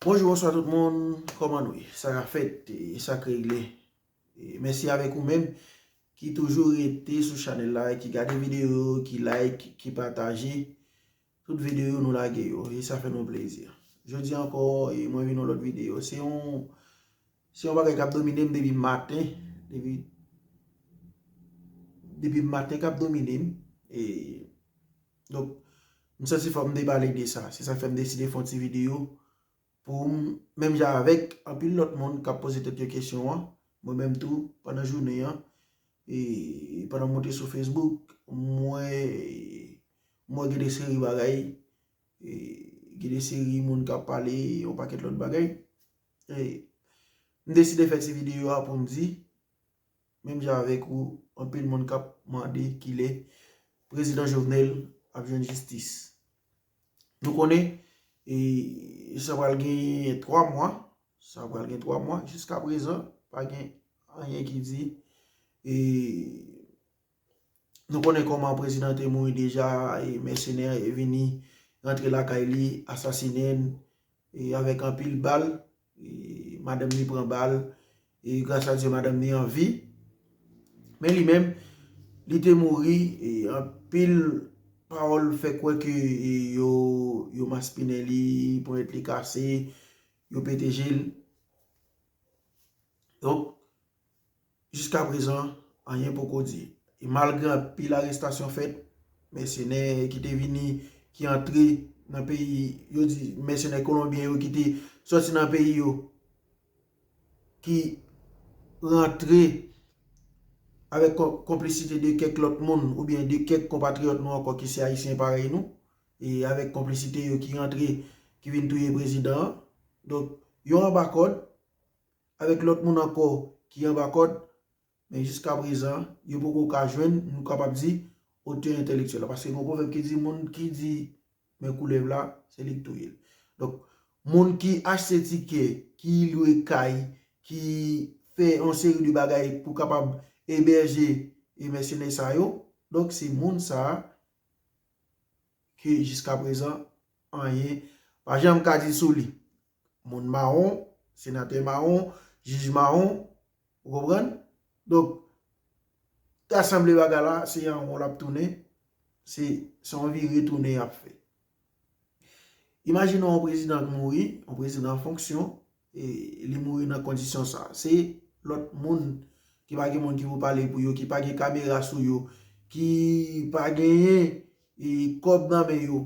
Bonjou bonswa tout moun kòman nou ye sa ka fèt e sa k regle mèsi avèk ou menm ki toujou rete sou chanèl la ki gade videyo yo ki like ki pataje tout videyo nou lage yo e sa fè nou plezi jodi ankò e mwen vin yon lòt videyo se yon se yon bagay k ap domine m depi maten depi depi maten k ap domine m e Donk, m santi fò m te pale de sa. Se sa k fè m deside fè yon ti videyo pou m, menm jan avèk anpil lòt moun k ap poze tèt yo kesyon an, mwen menm tou, pandan jounen an, e pandan mwen te sou Facebook, mwen wè gen de seri bagay, gen de seri moun k ap pale yon pakèt lòt bagay. E m deside fè ti videyo a pou m di, menm jan avèk ou anpil moun kap mande kilè prezidan Jovenel ap jwenn jistis. Nou konnen e sa pral gen 3 mwa, sa pral gen 3 mwa jiska prezan pa gen anyen ki di e nou konnen koman prezidan te mouri deja e mèsenè vini rantre lakay li asasinen e avèk anpil bal Madanm ni pran bal e gras a Dye madanm ni an vi. Men li menm, li te mouri e anpil pawòl fè kwè ke yo maspinen li, ponyèt li kase, yo pete je l. Donk. Jiskaprezan, anyen poko di. E malgre anpil arestasyon fèt, mèsenè ki te vini, ki antre nan peyi, yo di mèsenè kolonbyen yo ki te soti nan peyi yo, ki rantre avèk konplisite de kèk lòt moun oubyen de kèk konpatriyòt nou ankò ki se ayisyen parèy nou, e avèk konplisite yo ki rantre, ki vin touye prezidan an. Donk, yo anba kòd, avèk lòt moun ankò ki anba kòd, men jiskaprezan, yo poko ka jwenn, nou kapab di, otè entèlektyèl la. Paske gen yon pwovèb ki di, moun ki di men koulèv la, se li ki touye l. Donk, moun ki achte tikè, ki lwe kay, ki fè yon seri de bagay pou kapab ebèje e mèsenè sa yo, donk se moun sa a ke jiskaprezan anyen pa janm ka di sou li. moun mawon, senatè mawon, jij mawon, ou konprann? Donk, ta sanble bagay la, se yon won l ap tounen, se yon vire tounen y ap fè. Imajine yon prezidan k mouri, yon prezidan an fonksyon, e li mouri nan kondisyon sa. Se lòt moun ki pa gen moun ki pou pale pou yo, ki pa gen kamera sou yo, ki pa genyen kòb nan men yo,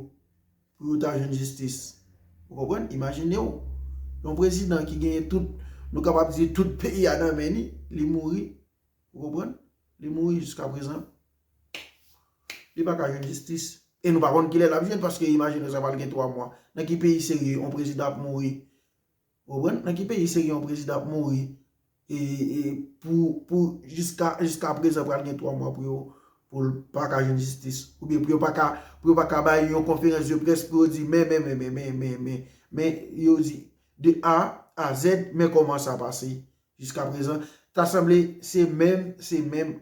Pou yo ta jwenn jistis. Ou konprann? Imajine w, yon prezidan ki genyen tout, nou kapab di tout peyi a nan men li, li mouri. Ou konprann? Li mouri jiskaprezan. Li pa ka jwenn jistis. E nou pa konn kilè l ap jwenn, paske imajine w sa pral gen 3 mwa. Nan ki peyi serye yon prezidan ap mouri? Ou konprann? Nan ki peyi seri yon prezidan ap mouri pou jiska prezan pral gen 3 mwa pou yo pou l pa ka jwenn jistis ou byen pou yo pa ka bay yon konferans de près pou yo di men men men men men men men men yo di de a a zèd men kòman sa pase jiska prezan ta sanble se menm se menm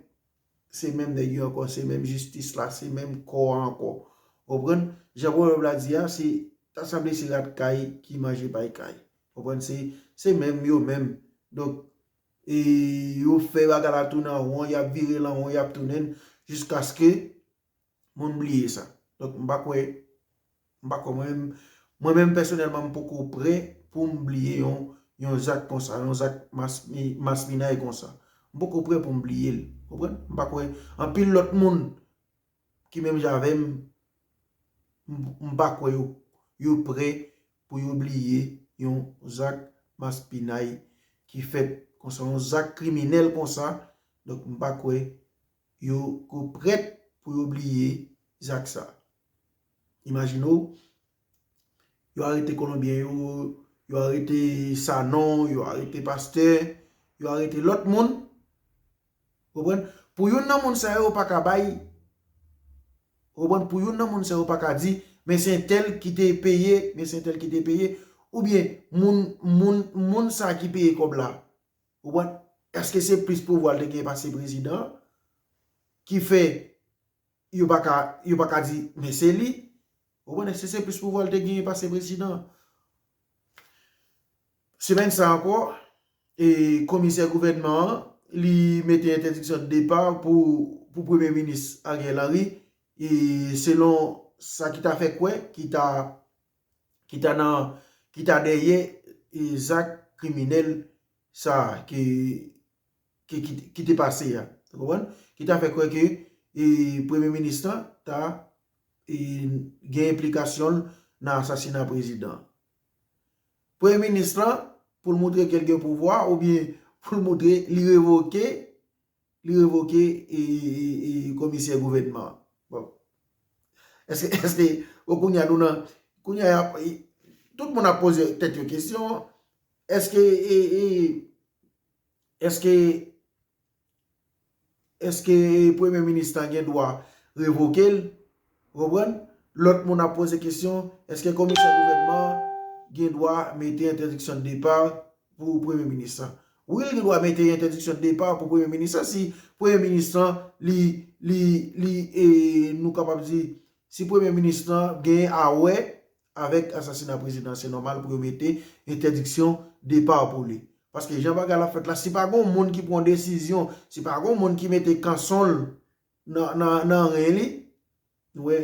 se menm nèg yo ankò, se menm jistis la, se menm kò a ankò. Ou konprann? Jan pwovèb la di a, se ta sanble se rat kay ki manje pay kay. Ou konprann? Se menm yo menm. Donk, e yo fè bagay la tounen an won, y ap vire l an won, y ap tounen l jiskaske. Mwen m bliye sa. Donk m pa kwè, m pa kwè mwen, mwen menm pèsonèlman m poko prè pou m bliye yon, yon zak konsa, yon zak maspinay konsa. M poko prè pou m bliye l. Ou konprann? M pa kwè anpil lòt moun ki menm jan avè m, m pa kwè yo, yo prè pou yo bliye yon zak maspinay ki fèt konsa, yon zak kriminèl konsa. Donk m pa kwè yo ko prèt pou yo bliye zak sa. Imajine w, yo arete Kolonbyen yo, yo arete Sanon, yo arete Pastè, yo arete lòt moun, konprann? Pou youn nan moun sa yo pa ka bay, konprann? Pou youn nan moun sa yo pa ka di, men se entèl ki te peye, men se entèl ki te peye, oubyen moun, moun, moun sa ki peye kòb la, Ou konprann? Eske se plis pouvwa l te genyen pase prezidan an ki fè yo pa ka, yo pa ka di men se li? Ou konprann? Eske se plis pouvwa l te genyen pase prezidan an? Semèn sa ankò, komisè gouvènman an, li mete entèdiksyon de depa pou premye minis Ariel Henry, selon sa ki ta fè kwè, ki ta ki ta dèyè zak kriminèl sa ki te pase a. Ki ta fè kwè ke premye minis lan ta gen enplikasyon nan asasina prezidan. Premye minis lan pou l moutre ke l gen pouvwa ou byen pou l moutre li revoke Li revoke komisè gouvènman an. Bon. Eske, eske, bon kounye a nou nan, kounye a, tout moun ap poze tèt yo kesyon, eske, eske, eske premye minis lan gen dwa revoke l? Ou konprann? Lòt moun ap poze kesyon, eske komisè gouvènman an gen dwa mete entèdiksyon de depa pou premye minis lan? Wi li gen dwa mete entèdiksyon de depa pou premye minis lan si premye minis lan li, li, li e nou kapab di si premye minis lan gen a wè avèk asasina prezidan an. Se nòmal pou yo mete entèdiksyon depa pou li. Paske jan bagay la fèt la, si pa gen yon moun ki pran yon desizyon, si pa gen yon moun ki mete kanson l, Nan ren li, nou wè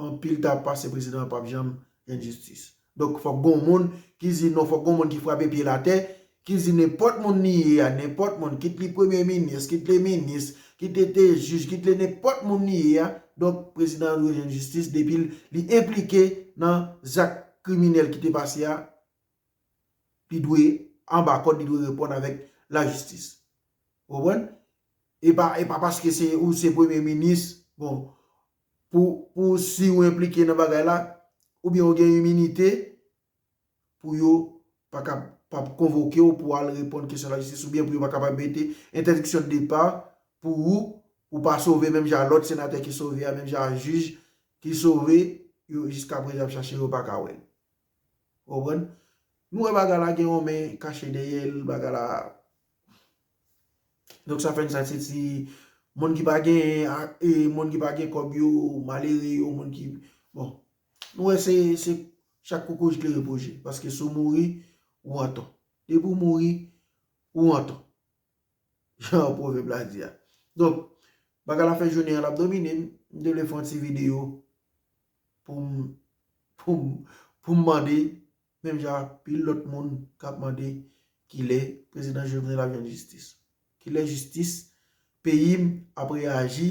anpil ta pase prezidan an pap janm jwenn jistis. Donk fòk gon moun ki di non, fòk gon moun ki frape pye l atè, ki di nenpòt moun li ye a, nenpòt moun, kit li premye minis, kit li minis, kit li te jij, kit li nenpòt moun li ye a, donk prezidan an dwe jwenn jistis depi li enplike nan zak kriminèl ki te pase a. li dwe anba kòd, li dwe reponn avèk lajistis. Ou konprann? E pa e pa paske se ou se premye minis, bon, pou pou si ou enplike nan bagay la, oubyen ou gen iminite, pou yo pa ka pa konvoke ou pou al reponn kesyon lajistis, oubyen pou yo pa ka pa mete entèdiksyon de depa pou ou, ou pa sove menm jan a lòt senatè ki sove a, menm jan a jij ki sove, yo jiskaprezan y ap chache yo pa ka wè l. Ou konprann? Nou wè bagay la gen yon men kache dèyè l, bagay la Donk sa fè n sa se ti moun ki pa genyen ak e moun ki pa gen kòb yo, malere yo, moun ki Bon, nou wè se se chak koukouy jklere pou je, paske si w mouri, ou an tò. Depi w mouri, ou an tò. Jan pwovèb la di a. Donk, bagay la fè jounen an l ap domine m, m te vle fè yon ti videyo Pou m pou m pou m mande menm jan ak pil lòt moun k ap mande kilè prezidan Jovenel ap jwenn jistis. Kilè jistis peyi m ap reyaji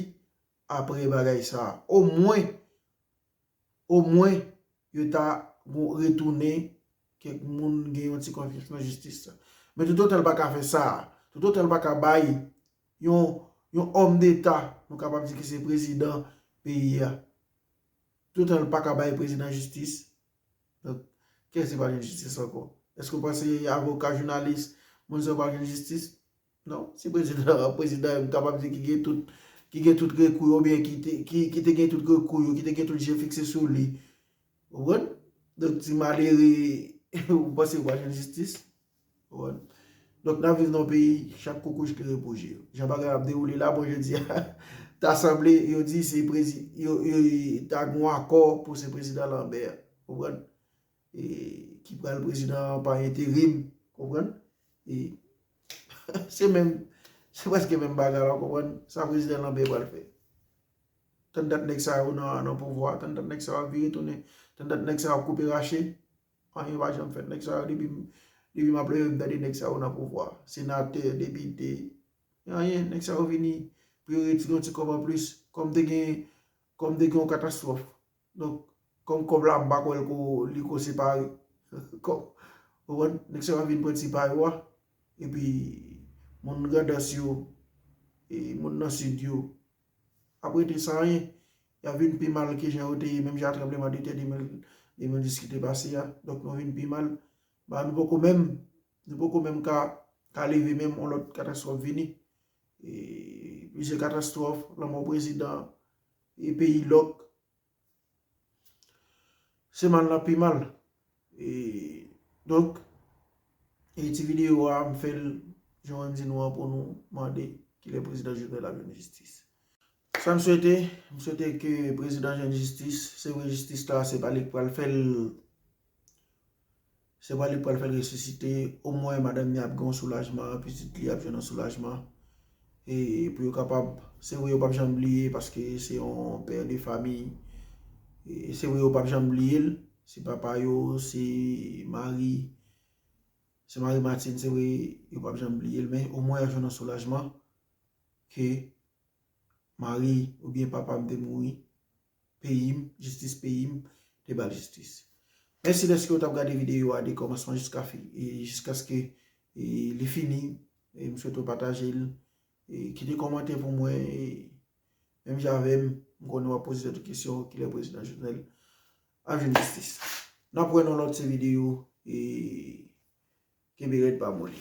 aprè bagay sa a. Omwen omwen yo ta gon retounen kèk moun gen yon ti konfyans nan jistis la. Men toutotan l pa ka fè sa a, toutotan l pa ka bay yon yon homme d'Etat nou kapab di ki se prezidan peyi a toutan l paka bay prezidan jistis donk kiyès ki pral jwenn jistis ankò èske ou panse avoka jounalis moun sa yo pral jwenn jistis non si prezidan an prezidan yo m kapab di ki gen tout ki gen tout rekou yo oubyen ki te ki te gen tout rekou yo ki te gen tout je fikse sou li ou konprann donk ti malere ou panse yo pral jwenn jistis. Donk nap viv nan yon peyi chak kokoch klere pou je yo. Jan bagay ap dewoule la bon jodi a ta sanble yo di se prezi yo ta gon akò pou se prezidan lanbè a. Konprann? E ki pral prezidan an pa enterim. Konprann? E se menm se preske menm bagay la konprann sa prezidan lanbè pral fè. Tann dat nèg sa yo nan pouvwa, tann dat nèg sa yo ap vire tounen, tann dat nèg sa yo ap koupe rache. Anyen pa janm fèt nèg sa yo depi depi map leve m tande nèg sa yo nan pouvwa senatè depite anyen nèg sa yo vini pou yo retire yon ti kòb anplis kòm te gen kòm te gen yon katastwòf donk kòm kòb la m pa kwè li ko separe kòb ou konprann nèg sa yo ap vin pran ti pa yo a epi moun grandans yo e moun nan sid yo ap rete san anyen, y ap vin pi mal ke jan yo te ye menm jan a tranbleman de tè 2010 ki te pase a, donk nou vin pi mal, ba nou poko menm, nou poko menm ka ka leve menm yon lòt katastwòf vini, e plizyè katastwòf, lanmò prezidan, e peyi lòk. Se mal nan pi mal. E donk, e ti videyo a m fè l jan mwen di nou an pou nou mande ki lè prezidan Jovenel ap jwenn jistis. Sa m swete, m swete ke prezidan jwenn jistis. Se vre jistis la se pa li k pral fè l. Se pa li pral fèl resisite, o mwen madanm ni ap gen yon soulajman, pitit li ap jwenn yon soulajman, e pou yo kapab, se vre yo pap janm bliye paske se yon pè de fami, e se vre yo pap janm bliye l, se papa yo, se mari, se mari Martine, se vre yo pap janm bliye l, men o mwen yo jwenn yon soulajman, ke mari ou byen papa m te mouri. peyim jistis peyim te bal jistis mèsi dèske ou tap gade videyo a de kòmansman jiska fi jiskaske li fini m swete ou patajel kite kòmantè pou mwen menm jan avèm m konnen wap poze tèt ou kesyon kilè prezidan jovenel ap jwenn jistis nap wè nan lòt se videyo kenbe rèd pa moli.